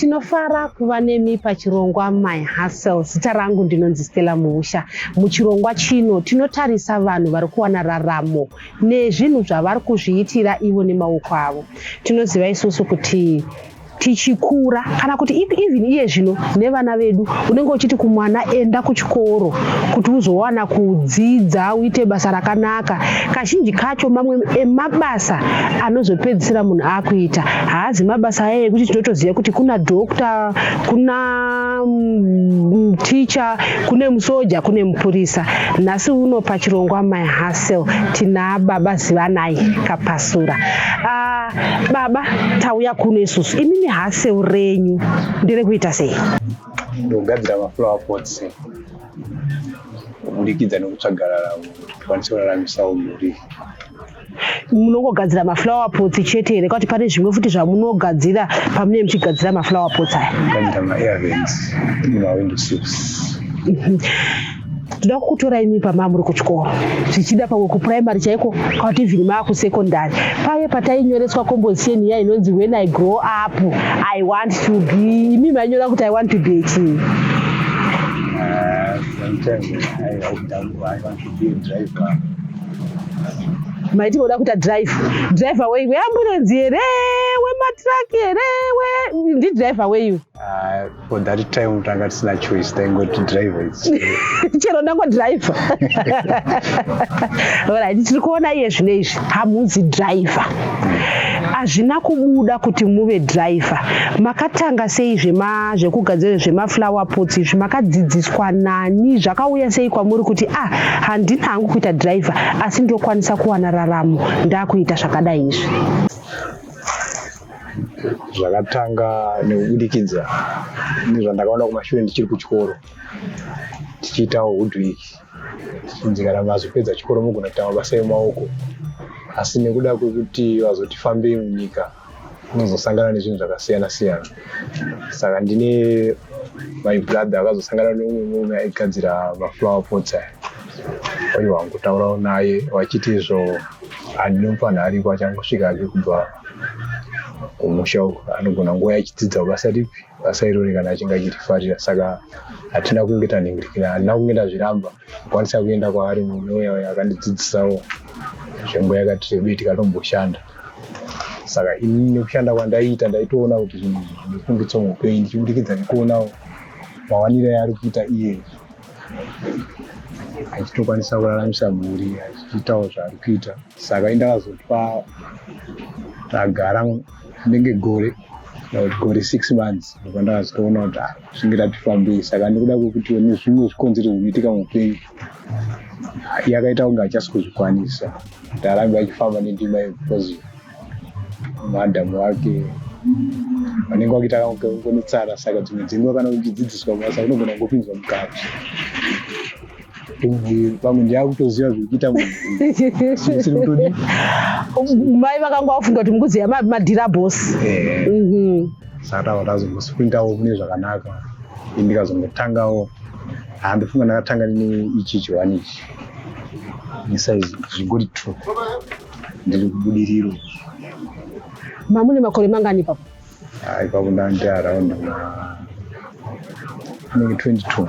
tinofara kuva nemi pachirongwa my hustle zita rangu ndinonzi stella muusha muchirongwa chino tinotarisa vanhu vari kuwana raramo nezvinhu zvavari kuzviitira ivo nemaoko avo tinoziva isusu kuti tichikura kana kuti even iye zvino nevana vedu unenge uchiti kumwana enda kuchikoro kuti uzowana kudzidza uite basa rakanaka kazhinji kacho mamwe emabasa anozopedzisira munhu akuita haazi mabasa aya ekuti tinotoziva kuti kuna doctor kuna mm, ticha kune musoja kune mupurisa nhasi uno pachirongwa my hasel tina baba zivanai kapasura uh, Baba tauya kuno isusu imimi haseu renyu ndere kuita sei? Ndogadzira maflower pots kuburikidza nekutsvaga raramo tikwanise kuraramisawo mhuri munongogadzira maflower pots chete here kwati pane zvimwe futi zvamunogadzira pamunee muchigadzira maflower pots aya gadzira maervens nemawindo silks tinoda kukutora imi pama muri kuchikoro zvichida pamwe kupuraimary chaiko kauti even maakusekondary paye patainyoreswa kombosiyeni iya inonzi when i grow up i want to be imi mainyora kuti i want to be chii maiti moda kuita drive driver wei weamburenzi here wematraki here ndidriver weiwe Ah, for that time tanga tisina choice taingoti driver chero ndango driver right tiri kuona iye zvine izvi hamuzi driver hazvina kubuda kuti muve driver makatanga sei zvema zvekugadzira zvemaflower pots izvi makadzidziswa nani zvakauya sei kwamuri kuti ah handina hangu kuita driver asi ndokwanisa kuwana raramo ndakuita zvakadai izvi zvakatanga nekubudikidza nezvandakaona kumashure ndichiri kuchikoro tichiitawo hudwiki tichinzi kana mazopedza chikoro mogona kuita mabasa emaoko asi nekuda kwekuti vazoti fambei munyika unozosangana nezvinhu zvakasiyana siyana saka ndine my brother akazosangana neumwe murume aigadzira maflower pots aya oiwa kutaurawo naye vachiti izvo handinomufanhu ariko achangosvika ake kubva kumusha uko anogona nguva yachidzidza basa ripi basa irori kana achinge achirifarira saka hatina kunge tanhingirikira handina kunge ndazviramba akwanisa kuenda kwaari mune uya uya akandidzidzisawo zvenguva yakati rebei tikatomboshanda saka ini nekushanda kwandaiita ndaitoona kuti zvinhu zvifunditso muupenyu ndichibudikidza nekuonawo mawaniro yaari kuita iye achitokwanisa kuraramisa mhuri achiitawo zvaari kuita saka indakazotwa tagara ndenge gore kuti gore six months ndobva ndakazitoona kuti ah, zvinge tatifambei saka ndikuda kwekuti ne zvimwe zvikonzero zvinoitika muupenyu yakaita kunge achasi kuzvikwanisa ndarambe achifamba nendima yeposive madam wake vanenge vakuita kunetsara saka dzimwe dzenguva kana uchidzidziswa basa unogona kungopinzwa mukati pamwe ndiakutoziva zvekuita mai vakanga vafunga kuti mukuziva madhira bos eh. mhm. saka tava tazombosprintawo kune zvakanaka ndikazongotangawo handifunga ndakatanga neichichi wani ichi nisaizi zvingori true Ndiri kubudiriro. Mamune makore mangani ipapo? Ah, ipapo ndandi around anenge 22.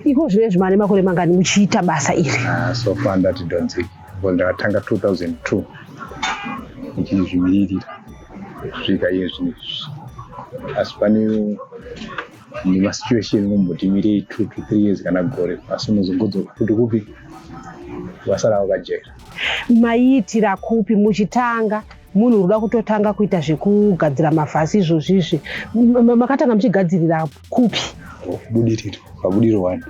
Iko zvinezvi mane makore mangani muchiita basa iri? Ah, so far ndati donzeki. Ngo ndakatanga 2002 ndichizvimiririra kusvika iye zvinezvi. Asi pane nemasituation kumbotimirei two to three years kana gore asi unozongodzoka kuti kupi vasara vakajeka maiitira kupi muchitanga munhu unoda kutotanga kuita zvekugadzira mavhasi izvozvi izvi makatanga muchigadzirira kupi budiriro pabudiro wani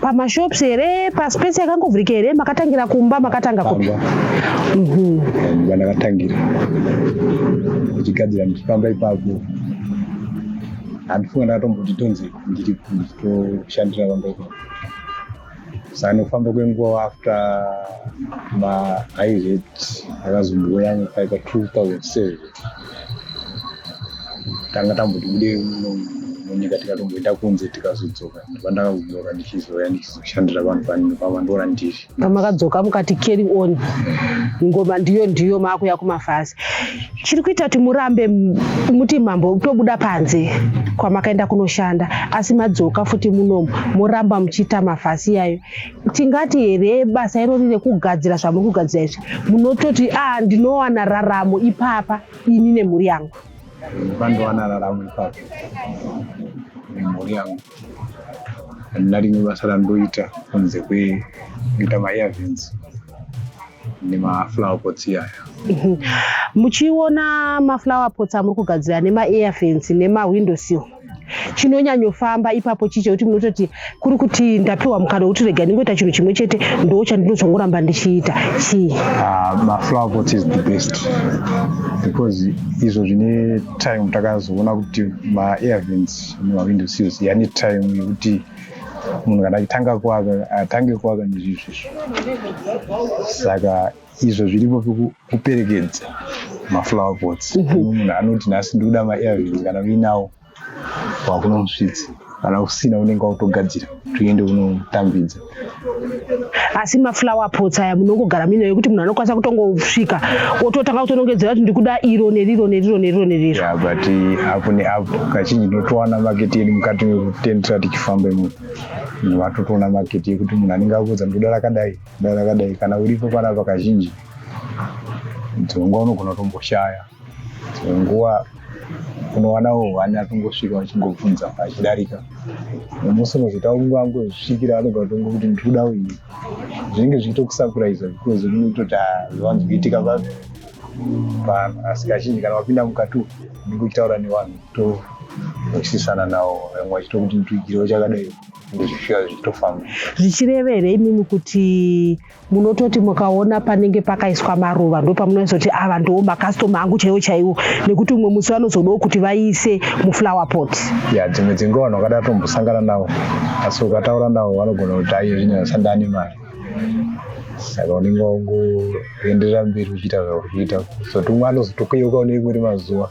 pamashops here paspace yakangovhurika here makatangira kumba makatanga kupi mhm. kumba ndakatangira ndichigadzira ndichifamba ipapo handifunga ndakatomboti tonzi ndiri nditoshandira vamba ipapo sanofamba kwenguva after maairet akazomboyanga paika 2007 tanga tamboti bude munyika tikatomboenda kunze tikazodzoka vandakaunyora ndichizouya ndichizoshandira vanhu vanini vavandora ndiri pamakadzoka mukati carry on ngoma ndiyo ndiyo maakuya kumafasi chiri kuita kuti murambe muti mambo tobuda panze kwamakaenda kunoshanda asi madzoka futi munomu moramba muchiita mafasi iyayo tingati here basa irori rekugadzira zvamuri kugadzira izvi munototi a ah, ndinowana raramo ipapa ini nemhuri yangu vandowana raramo ipapo nemhuri yangu handina rimwe basa randoita kunze kwekuita maearvins nemaflower pots iyaya muchiona maflower pots amuri kugadzira nemaearvins nemawindosil chinonyanyofamba ipapo chicho kuti munototi kuri kuti ndapiwa mukana wekuti rega ndingoita chinhu chimwe chete ndo chandinozongoramba ndichiita chii ah, maflower pot is the best because izvo zvine time takazoona kuti maairvins nemawindo seals yane time yekuti munhu kana achitanga kuaka atange kuaka nezvizvizvo saka izvo zviripo kuperekedza maflower pots mhm. munhu anoti nhasi ndikuda maairvins kana uinawo wakuno musvitsi kana usina unenge wautogadzira tuende unotambidza asi maflower pots aya munongogara mino yekuti munhu anokwanisa kutongosvika ototanga kutonongedzera kuti ndikuda iro neriro neriro neriro neriro yeah, but eh, apo neapo kazhinji ndinotowana maketi yedu mukati mekutendera tichifamba imomo vatotoona maketi yekuti munhu anenge akuudza ndikuda rakadai Dai rakadai kana uripo panapa kazhinji dzimwe nguva unogona kutomboshaya dzimwe nguva unowanawo hwani atongosvika vachingobvunza achidarika nemusi unozoita kunguva angosvikira anogona kutongo kuti ndikuda uyi zvinenge zvichitokusapuraiza because unenge kutoti zvivanzi kuitika pa vanhu asi kazhinji kana wapinda mukati umu unenge uchitaura nevanhu to vachisisana nawo vamwe vachitokuti ndituigiriwo chakadai ndozvifira zvichitofamba zvichireva here imimi kuti munototi mukaona panenge pakaiswa maruva ndo pamunoisoti ava ndoo makastoma angu chaiwo chaiwo nekuti umwe musi vanozodawo kuti vaise muflower pot ya dzimwe dzinguva vanhu vakada tombosangana navo asi ukataura navo vanogona kuti aiye zvinyaya sandani mari saka unenge wangoenderera mberi uchiita zvauri kuita zoti umwe anozotokuyeuka une imwe rimazuva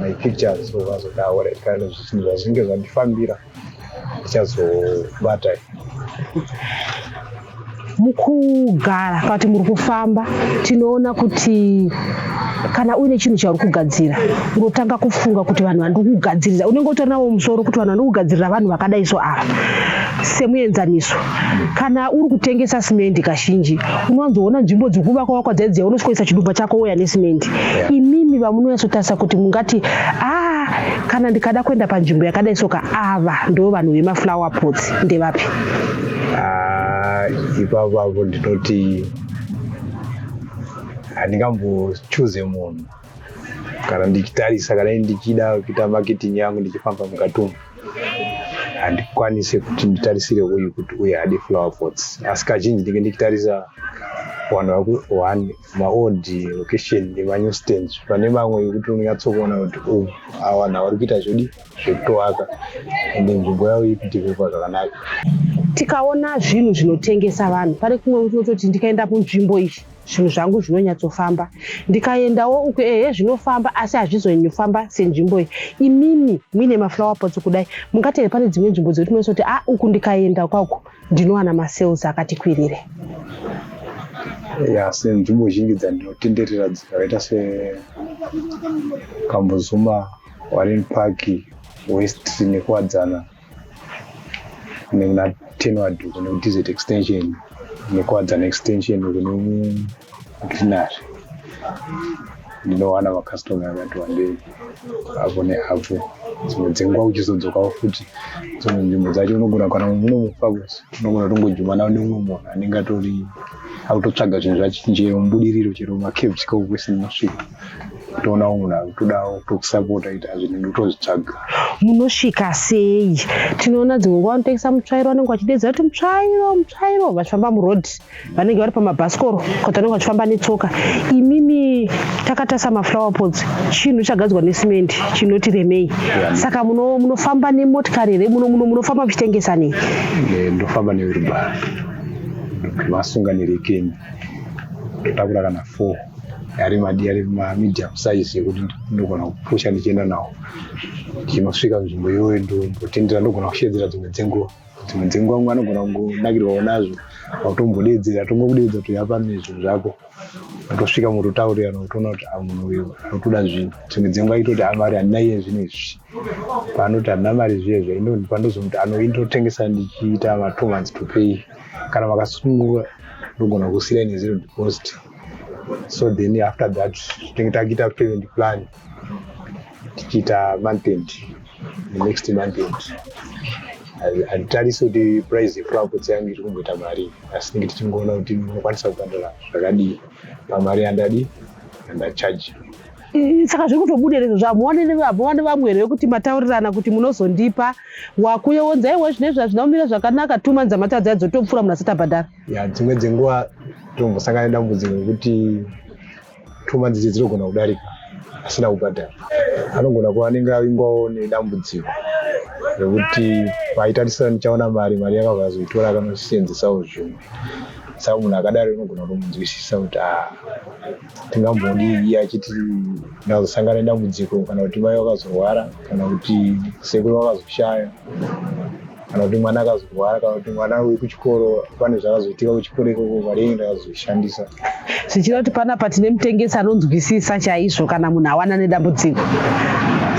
my pictures so vazotaura kana zvinhu zvazvinge zvandifambira ndichazobata mukugara kana kuti muri kufamba tinoona kuti kana uine chinhu chauri kugadzira unotanga kufunga kuti vanhu vandiri kugadzirira unenge utori nawo musoro kuti vanhu vandiri kugadzirira vanhu vakadai so ava semuenzaniso kana uri kutengesa simendi kazhinji unowanzoona nzvimbo dziri kuvakwa vakwa dzai dziya unosvikoisa chidumba chako woya nesimendi yeah. imimi vamunonyatsotarisa kuti mungati ah kana ndikada kuenda panzvimbo yakadai soka ava ndo vanhu vemaflower pots ndevapi ah, ipapavo ndinoti handingambochuze munhu kana ndichitarisa kana ndichida kuita marketing yangu ndichifamba mukati umu handikwanise kuti nditarisire uyu kuti uye hadi flower pots asi kazhinji ndinge ndichitarisa vanhu vakuone maold location nemanew stands pane mamwe yekuti unonyatsokuona kuti u oh, awa nhawa ri kuita zvodi zvekutovaka ende nzvimbo yavo ikudevelopa zvakanaka tikaona zvinhu zvinotengesa vanhu pane kumwe kutototi ndikaenda kunzvimbo iyi zvinhu zvangu zvinonyatsofamba ndikaendawo uku ehe zvinofamba asi hazvizonyofamba senzvimbo iyi imimi muine maflower pots kudai mungateve pane dzimwe nzvimbo dzekuti munoisa kuti a ah, uku ndikaenda kwauku ndinowana masales akati kwirire ya senzvimbo zhinji dzandinotenderera dzakaita sekambuzuma warren park west nekuwadzana nekuna tenward uko nekudz extension nekuwadzana extension uko nekugreenary ndinowana macustoma akati wandei apo neapo dzimwe dzenguva uchizodzokawo futi dzimwe nzvimbo dzacho unogona kana unomufa kusi unogona tongojumana neumwe munhu anenge atori akutotsvaga zvinhu zvachinjeyo mubudiriro chero macaves kaukwesi ndinosvika toonawo munhu akutodawo tokusapota ita zvinhu ndotozvitsvaga munosvika sei tinoona dzimwe nguva vanotengesa mutsvairo vanenge vachidedza kuti mutsvairo mutsvairo vachifamba muroad vanenge vari pamabhasikoro kuti vanenge vachifamba netsoka imimi takatasa maflower pots chinhu chagadzwa necement chinoti remei saka munofamba nemotikari here muno muno munofamba muchitengesa nei eh, ndofamba neurubani vasunga nerekeni totakura kana four ari madi ari mamedium size yekuti ndogona kupusha ndichienda nawo ndichinosvika nzvimbo iyoyo ndombotendera ndogona kushedzera dzimwe dzenguva dzimwe dzenguva mwe anogona kungonakirwawo nazvo akutombodeedzera tongokudeedza toyapano zvinhu zvako atosvika mototaurirana otoona kuti ah, munhu uyu anotoda zvinhu dzimwe dzenguva itoti amari ah, handina iye zvinhu izvi paanoti hamna mari zviye zviye ino pandozomuti anoindotengesa ndichiita ma two months to pay kana vakasununguka ndogona kusiya nezero deposit so then after that tinenge takuita payment plan tichiita month end next month end hatitarisi kuti price yeflowers yangu iri kumboita mari asi tinenge tichingoona kuti ndinokwanisa kubhadhara zvakadii pamari yandadi andachaji saka zviri kutobuda izvo zvamuone nevabhova nevamwe here vekuti mataurirana kuti munozondipa wakuyewonza iwe zvine zvazvina kumira zvakanaka two months amatadzi adzotopfuura munhu asati abhadhara ya dzimwe dzenguva tombosangana nedambudziko rekuti two months idzi dzinogona kudarika asina kubhadhara anogona kuva anenge avingwawo nedambudziko rekuti paitarisira ndichaona mari mari yakabva azoitora akanoseenzesawo zvimwe saka munhu akadaro inogona kutomunzwisisa kuti a ah, tingambodii iye achiti ndazosangana nedambudziko kana kuti mai vakazorwara kana kuti sekuru vakazoshaya kana kuti mwana akazorwara kana kuti mwana uri kuchikoro pane zvakazoitika kuchikoro ikoko mari yenyu ndakazoishandisa zvichira kuti panapa tine mutengesi anonzwisisa chaizvo kana munhu awana nedambudziko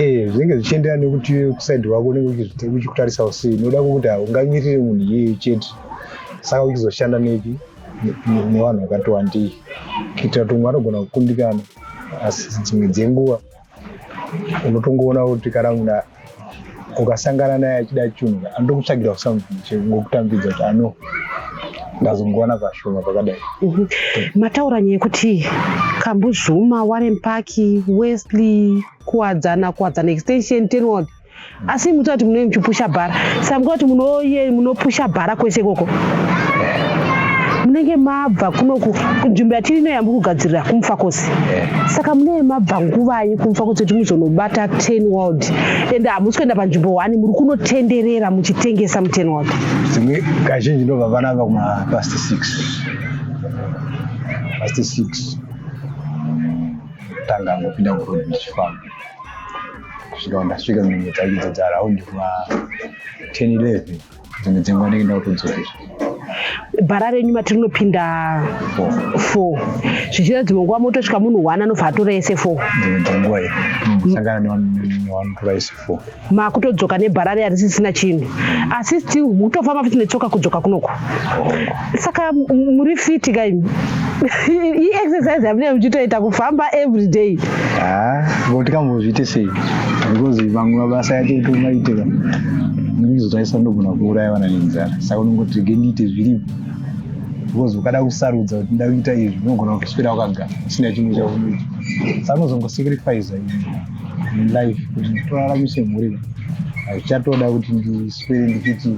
Eh, zvinenge zvichienderana nekuti iwe kusaidi wako unenge uchizvite- uchikutarisawo sei unoda kuti haungamirire munhu iyeye chete saka uchizoshanda nepi nevanhu vakati wandei kuitira kuti umwe anogona kukundikana asi dzimwe dzenguva unotongoona kuti kana munhu ukasangana naye achida chunhu andokutsvagira something chekutambidza kuti ano ndazongoona pashoma pakadai mhm. mataura nyaya yekuti kambuzvuma warempaki wesley kuwadzana kuwadzana extension tenwod asi muta kuti munenge muchipusha bhara samka kuti munoye munopusha bhara kwese ikoko munenge mabva kunoku nzvimbo yatiri ino yambi kugadzirira kumufakosi saka munenge mabva nguvanyi kumufakosi kuti muzonobata ten world and hamusi kuenda panzvimbo one muri kunotenderera muchitengesa muten world dzimwe kazhinji ndobva vana va kumapast six past six tanga ngopinda kuroad ndichifamba kusvika ndasvika nzvimbo dzacho idzo dzaraundi kuma 10 11 dzimwe dzenguva ndenge ndakutodzokera bhara renyu mati rinopinda four zvichida dzimwe nguva motosvika munhu one anobva atora ese four dzimwe dzenguva iyo sangana newanotora ese four makutodzoka nebhara rearisisina chinhu asi still mutofamba futi netsoka kudzoka kunoko saka muri fiti ka imi iexercise yamunee muchitoita kufamba every day ko tikambozviite sei because vamwe mabasa yacho itomaitira ndizotayisa ndogona kuuraya vana nenzara saka unongoti rege ndiite zviripo because ukada kusarudza kuti nda kuita izvi unogona kutoswira wakagara usina chimwe chaunoita saka unozongosacrifice in life kuti toraramise mhuri hazvichatoda kuti ndiswere ndichiti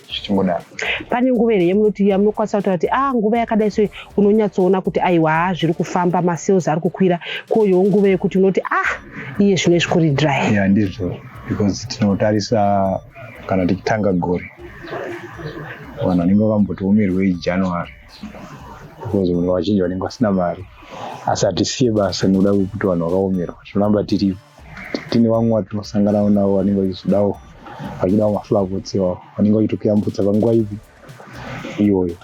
zvichimbodaro. Pane nguva here yamunoti yamunokwanisa kutaura kuti ah nguva yakadai so unonyatsoona kuti aiwa haa zviri kufamba masales ari kukwira koyowo nguva yekuti unoti ah iye zvino izvi kuri dry. Ya ndizvo because tinotarisa kana tichitanga gore vanhu vanenge vakamboti umirwei January because vanhu vazhinji vanenge vasina mari asi hatisiye basa nekuda kwekuti vanhu vakaomerwa tinoramba tiripo tine vamwe vatinosanganawo navo vanenge vachizodawo vachidawo maflavots iwawo vanenge vachitokuyambutsa panguva ipi iyoyo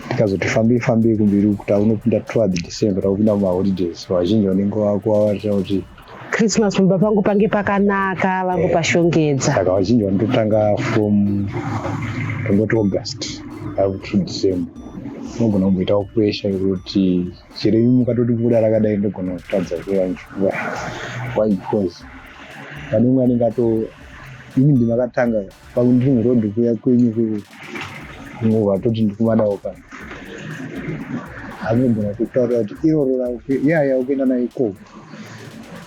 tikazoti fambei fambei kumberi uku taunopinda toward december taupinda mumaholidays so vazhinji vanenge vakuvavarira kuti christmas pamba pangu pange pakanaka vangu pashongedza saka vazhinji vanototanga from tongoti august up to december unogona kumboitawo pressure yekuti chero imi mukatoti mvura rakadai ndogona kutadza kuyanjuwa why because pane umwe anenge ato ini ndimakatanga pakundiri muroad kuya kwenyu kunguva toti ndikumadawo kana anogona kutaura kuti iroro yaya ukuenda nayo ikoko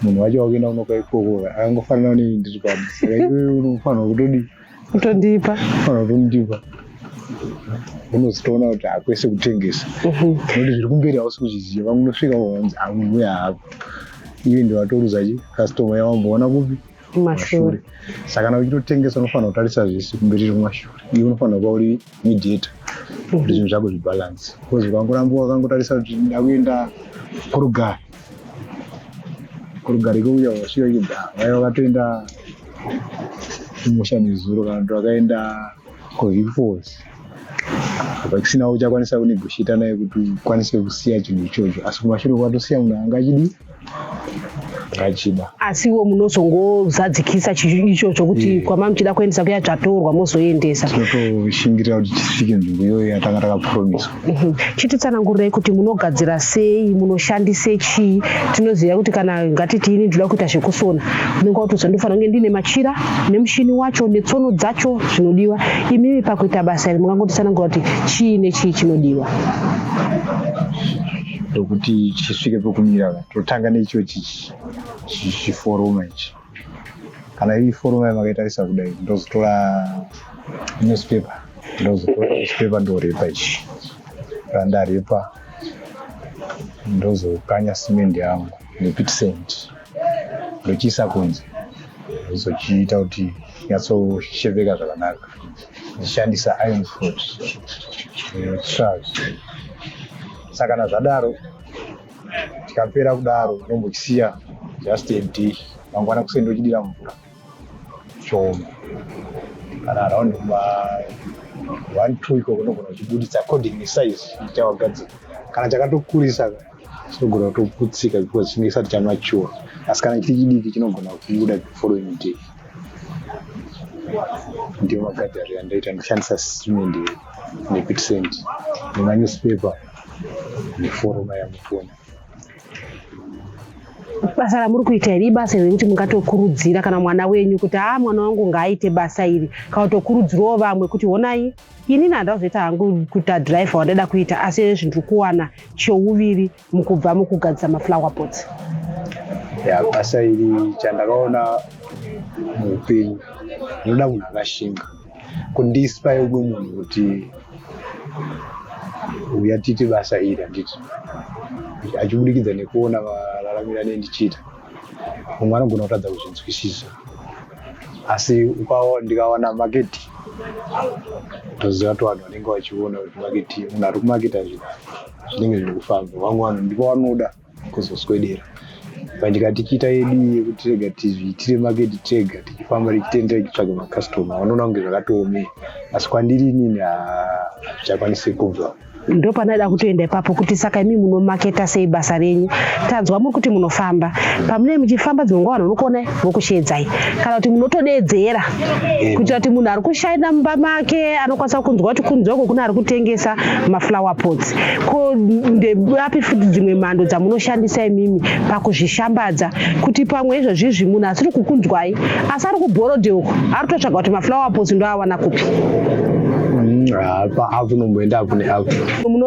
munhu wacho wakuenda unoka ikoko akangofanana neni ndiri pano saka iwe unofanirwa kutodii utondipa unotondipa unozotoona kuti hakwese kutengesa mhm. nekuti zviri kumberi hausi kuzviziva unosvika wanzi amuuya hako iye ndiwatoruza chi kastoma yawamboona kupi kumashure saka kana uchitotengesa unofanira kutarisa zvese kumberi kumashure iwe unofanira kuva uri mediator kuti zvinhu zvako zvibhalansi bcause ukangoramba wakangotarisa kuti ndakuenda kurugare kurugari kuuya wasvika kuda vaiva vatoenda kumusha nezuro kana kuti vakaenda kuvipos apa kusina uchakwanisa kunegoshita naye kuti ukwanise kusiya chinhu ichocho asi kumashure kwatosiya munhu anga achidi achida asiwo munozongozadzikisa ichocho kuti yeah. kwamamuchida kuendesa kuya chatorwa mozoendesa tinotoshingirira kuti tisvike nzvimbo iyoyo yatanga takapromiswa Mhm. chititsanangurirei kuti munogadzira sei munoshandise chii tinoziva kuti kana ngatiti ini ndinoda kuita zvekusona unenge watoziva ndofana kunge ndiine machira nemushini wacho netsono dzacho zvinodiwa imimi pakuita basa iri mungangotitsanangura kuti chii nechii chinodiwa ndokuti chisvike pekumira totanga necho chichi chichiforoma ichi kana iri forum yayo makaitarisa kudai ndozotora newspaper ndozotora newspaper ndoripa ichi randaripa ndozokanya simendi yangu nepitisent ndochiisa kunze ndozochiita kuti nyatsosheveka zvakanaka ndichishandisa iron foot eh, saka kana zvadaro chikapera kudaro unombochisiya just a day mangwana kuseni ndochidira mvura chooma kana around ma one two ikoko ndogona uchibuditsa according nesize chawagadzira kana chakatokurisa chinogona kutoputsika because chinenge chisati chamature asi kana chiri chidiki chinogona kubuda the following day ndiwo magadhari andaita ndishandisa simende nepitisenti nemanewspaper muforo vaya mukona basa ramuri kuita iri ibasa iri rekuti mungatokurudzira kana mwana wenyu kuti haa mwana wangu ngaaite basa iri kana kutokurudzirawo vamwe kuti honai inini handida kuzoita hangu kuita driver wandaida kuita asi izvezvi ndiri kuwana chouviri mukubva mukugadzisa maflower pots ya basa iri chandakaona muupenyu ndinoda munhu akashinga kundispa yeume munhu kuti uya titi basa iri handiti achibudikidza nekuona vararamira ne ndichiita mumwe anogona kutadza kuzvinzwisisa asi ndikawana maketi toziva to vanhu vanenge vachiona kuti maketi munhu ari kumaketi azvina zvinenge zviri kufamba vamwe vanhu ndipo vanoda kuzoswedera pandika tichiita yedu yekuti rega tizviitire maketi tega tichifamba tichitendera tichitsvaga makastoma vanoona kunge zvakatoomei asi kwandiri inini hazvichakwanisi kubva ndopanaida kutoenda ipapo kuti saka imi munomaketa sei basa renyu tanzwa muri kuti munofamba pamune muchifamba dzimwe nguva vanhu unokuonai vokusheedzai kana kuti munotodeedzera eh. kuitira kuti munhu ari kushaina mumba make anokwanisa kunzwa kuti kunzwa uko kune ari kutengesa maflower pots ko ndeapi futi dzimwe mhando dzamunoshandisa imimi pakuzvishambadza kuti pamwe izvozvi izvi munhu asiri kukunzwai asi ari kuborode uko ari kutotsvaga kuti maflower pots ndoawana kupi paavnomboenda kune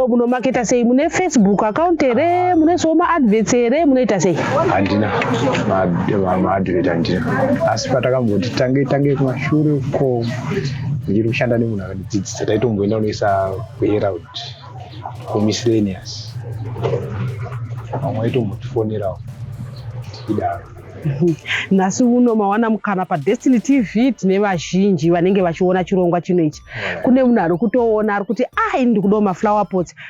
munomaketa sei mune facebook account here mune soma adverts here munoita sei handina maadvert handina asi patakamboti tange tange kumashure uko ndichiri kushanda nemunhu akandidzidzisa taitomboenda kunoisa kuherald kumiscellaneous vamwe vaitombotifonerawo idaro nhasi uno mawana mukana padestiny tv tine vazhinji vanenge vachiona chirongwa chino ichi kune munhu ari kutoona ari kuti ah ini ndikudawo maflower pots